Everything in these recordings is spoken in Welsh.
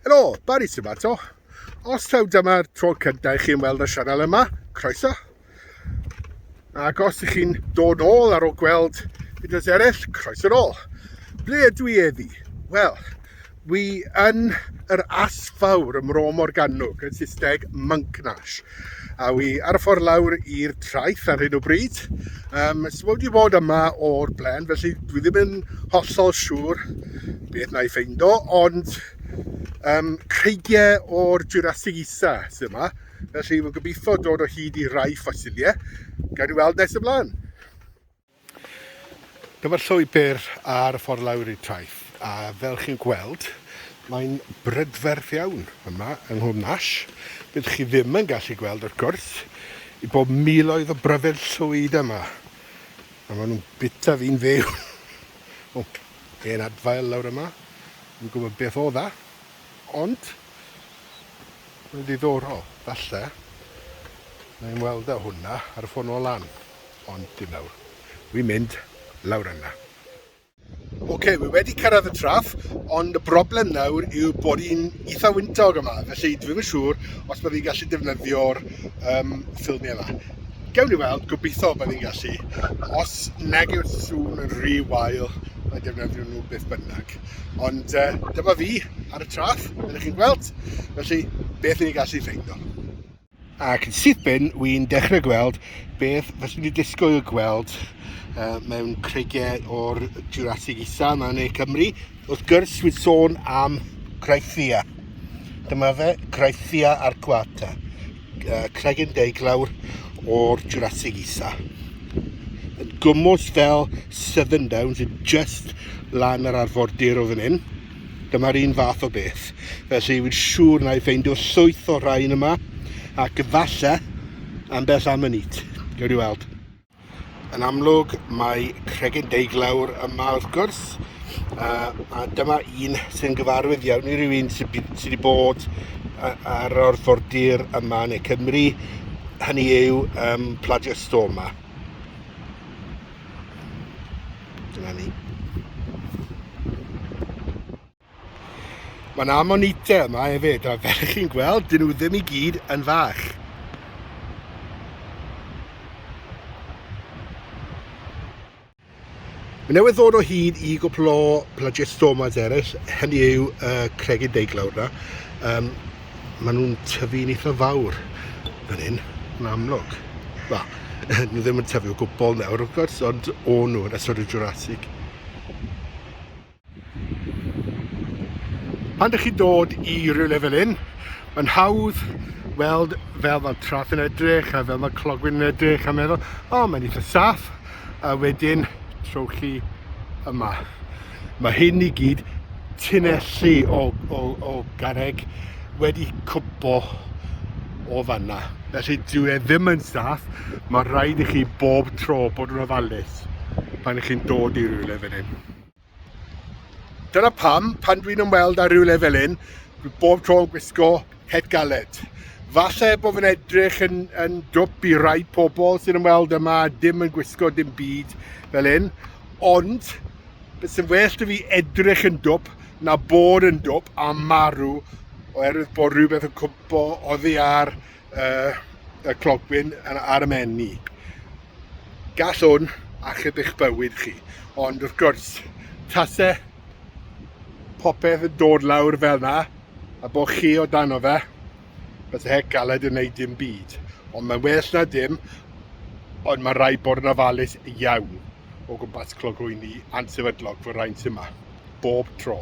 Helo, Barry sy'n fato. Os taw dyma'r tro cyntaf i chi'n weld y sianel yma, croeso. Ac os ydych chi'n dod ôl ar ôl gweld fideos eraill, croeso'r ôl. Ble ydw i eddi? Wel, Wi yn yr Allt Fawr ym Mro Morgannwg, yn Saesneg Monknash, a wi ar y ffordd lawr i'r traeth ar hyn o bryd. Um, so wedi bod yma o'r blaen, felly dwi ddim yn hollol siŵr beth na i ffeindo, ond um, creigiau o'r Jurassic Isa sydd yma, felly fi'n gobeithio dod o hyd i rai ffosiliau. Gael ei weld nes ymlaen. Dyma'r llwybr ar y ffordd lawr i'r traeth, a fel chi'n gweld, mae'n brydferth iawn yma yng Nghwm Nash. Byddwch chi ddim yn gallu gweld, wrth gwrs, i bob miloedd o bryfed llwyd yma, a maen nhw'n bita fi'n fyw. o, hen adfail lawr yma, yn gwybod beth o dda, ond mae'n ddiddorol, falle, na i'n weld e hwnna ar y ffordd nôl lan. Ond dim nawr. Wi'n mynd lawr yna. Ok, wi wedi cyrraedd y traff, ond y broblem nawr yw bod hi'n eitha wyntog yma, felly dwi ddim yn siŵr os byddwn i'n gallu defnyddio'r um, ffilmiau yma. Gewn ni weld, gobeithio byddwn i'n gallu. Os nag yw'r sŵn yn rhy wael, mae defnyddio nhw beth bynnag. Ond uh, dyma fi ar y traff, ydych chi'n gweld? Felly, beth ni'n gallu ffeindio? Ac yn syth bin, wy'n dechrau gweld beth fyswn i disgwyl gweld uh, mewn creigiau o'r Jurassic Isa yma yn ei Cymru. Wrth gwrs, wy'n sôn am Graithia. Dyma fe, Graithia arcuata, uh, cregyn deiglawr o'r Jurassic Isa. Yn gwmwys fel Southern Downs, yn just lan yr arfordir o fan hyn. Dyma'r un fath o beth. Felly, wy'n siŵr na i ffeindio llwyth o rhain yma, ac efallai ambell am y nid. Gawn ni weld. Yn amlwg, mae cregyn deiglawr yma wrth gwrs, uh, a dyma un sy'n gyfarwydd iawn i rywun sydd wedi bod ar orfordir yma neu Cymru, hynny yw um, pladiostoma. Dyna ni. Mae'n ammonite yma hefyd, a fel chi'n gweld, dyn nhw ddim i gyd yn fach. Mae newydd ddod o hyd i gwpl o plagistomas eraill, hynny yw uh, cregyn deiglawr na. Um, maen nhw'n tyfu'n eitha fawr fan hyn, yn amlwg. Wel, nhw ddim yn tyfu o gwbl nawr, wrth gwrs, ond o nhw yn ystod y Jurassic. Pan ydych chi'n dod i rywle fel hyn, mae'n hawdd weld fel mae trath yn edrych a fel mae clogwyn yn edrych a meddwl, o, oh, mae'n eitha saff, a wedyn trowch chi yma. Mae hyn i gyd, tunnelli o, o, o garreg, wedi cwmpo o fanna. Felly dyw e ddim yn saff, mae rhaid i chi bob tro bod yn ofalus pan ych chi'n dod i rywle fel hyn. Dyna pam, pan dwi'n ymweld â rhywle fel hyn, dwi bob tro yn gwisgo het galed. Falle bod fi'n edrych yn, yn dwp i rai pobl sy'n ymweld yma, dim yn gwisgo dim byd fel hyn, ond beth sy'n well da fi edrych yn dwp na bod yn dwp a marw oherwydd bod rhywbeth yn cwmpo oddi ar uh, y clogwyn ar y menni. Gall hwn achub eich bywyd chi, ond wrth gwrs, tasau popeth yn dod lawr fel yna, a bod chi o dano fe, beth y hec galed yn neud dim byd. Ond mae'n well na dim, ond mae rhaid bod yn ofalus iawn o gwmpas clogwyni ansefydlog fy rhain sy'n yma, bob tro.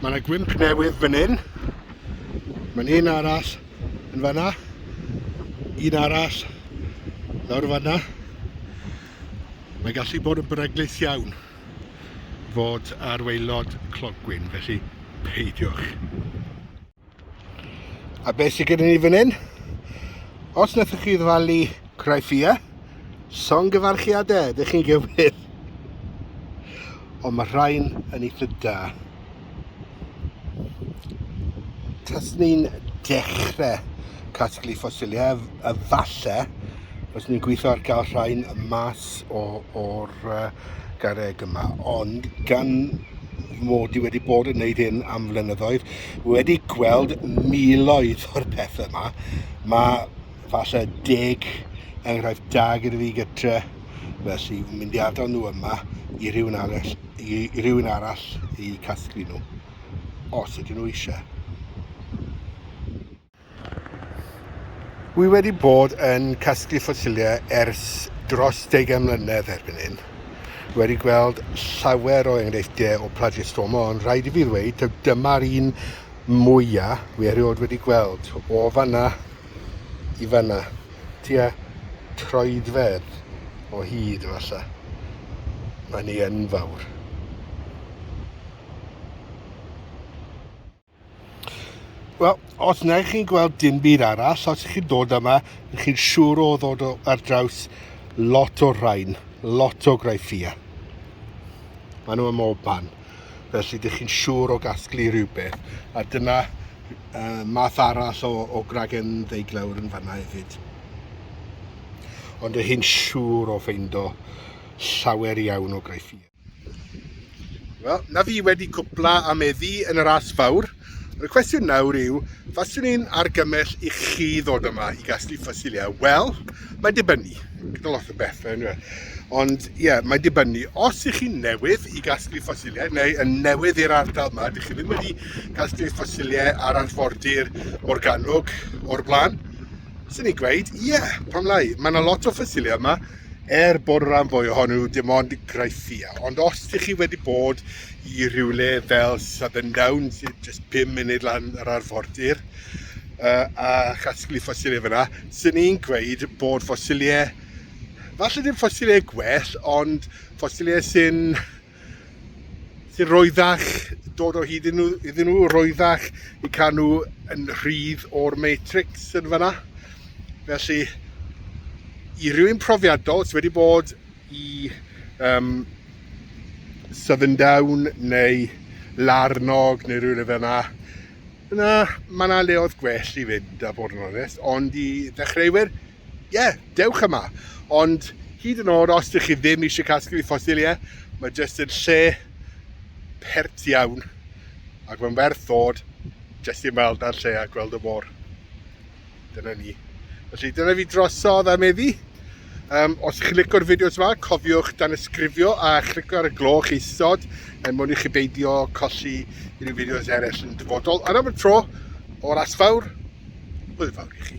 Mae yna gwymp newydd fan hyn. Mae'n un arall yn fanna. Un arall lawr fanna. Mae gallu bod yn beryglus iawn fod ar waelod clogwyn, felly peidiwch. A beth sydd gyda ni fan hyn? Os wnaethoch chi ddyfalu Craifia, son gyfarchiadau, ydych chi'n gywir. Ond mae rhain yn eitha da. Tas ni'n dechrau casglu ffosiliau, efallai, os ni'n gweithio ar gael rhain mas o'r gareg yma. Ond gan mod i wedi bod yn gwneud hyn am flynyddoedd, wedi gweld miloedd o'r pethau yma. Mae falle deg enghraifft da gyda fi gytre, felly yn mynd i adael nhw yma i rhywun arall i, i rhywun arall i casglu nhw, os ydyn nhw eisiau. Wi wedi bod yn casglu ffosiliau ers dros deugain mlynedd erbyn hyn. Wedi gweld llawer o enghreifftiau o Plagiostoma ond rhaid i fi ddweud taw dyma'r un mwya wi erioed wedi gweld. O fanna i fanna, tua troedfedd o hyd efallai. Mae'n ei enfawr. Wel, os na i chi'n gweld dim byd arall, os ych chi'n dod yma, ych chi'n siŵr o ddod o, ar draws lot o'r rhain, lot o graifia. Mae nhw ym mob man. Felly, ydych chi'n siŵr o gasglu rhywbeth. A dyna uh, math arall o, o gragen ddeiglawr yn fanna hefyd. Ond ydych chi'n siŵr o ffeindo llawer iawn o graifia. Wel, na fi wedi cwpla a meddu yn yr as fawr. Y cwestiwn nawr yw, faswn i'n argymell i chi ddod yma i gasglu ffosiliau? Wel, mae dibynnu, gyda lot o bethau yn dweud. Ond ie, yeah, mae dibynnu. Os ych chi'n newydd i gasglu ffosiliau, neu yn newydd i'r ardal yma, ydych chi ddim wedi casglu ffosiliau ar arfordir Morgannwg o'r blaen, Swn i'n gweud, ie, yeah, pam lai. Mae yna lot o ffysilau yma, er bod y rhan fwy ohonyn nhw dim ond graithia. Ond os ydych chi wedi bod i rhywle fel Southern Down, sy'n just 5 munud lan yr arfordir, uh, a chasglu ffosilau fyna, sy'n i'n gweud bod ffosilau, falle ddim ffosilau gwell, ond ffosilau sy'n Roeddach, dod o hyd iddyn nhw, roeddach i cael nhw yn rhydd o'r matrix yn fanna. Felly, i rywun profiadol sydd wedi bod i um, Southern Down neu Larnog neu rhywle fel yna, yna mae yna leoedd gwell i fynd a bod yn onest, ond i ddechreuwyr, ie, dewch yma. Ond hyd yn oed os dych chi ddim eisiau casglu ffosiliau, mae jyst yn lle pert iawn ac mae'n werth ddod jyst i ymweld â'r lle a gweld y môr. Dyna ni. Felly dyna fi drosodd am eddi. Um, os ydych chi'n licio'r fideos yma, cofiwch dan ysgrifio a chlicio ar y gloch isod er mwyn i chi beidio colli unrhyw fideos eraill yn dyfodol. Ar am y tro, o'r asfawr, hwyl fawr i chi.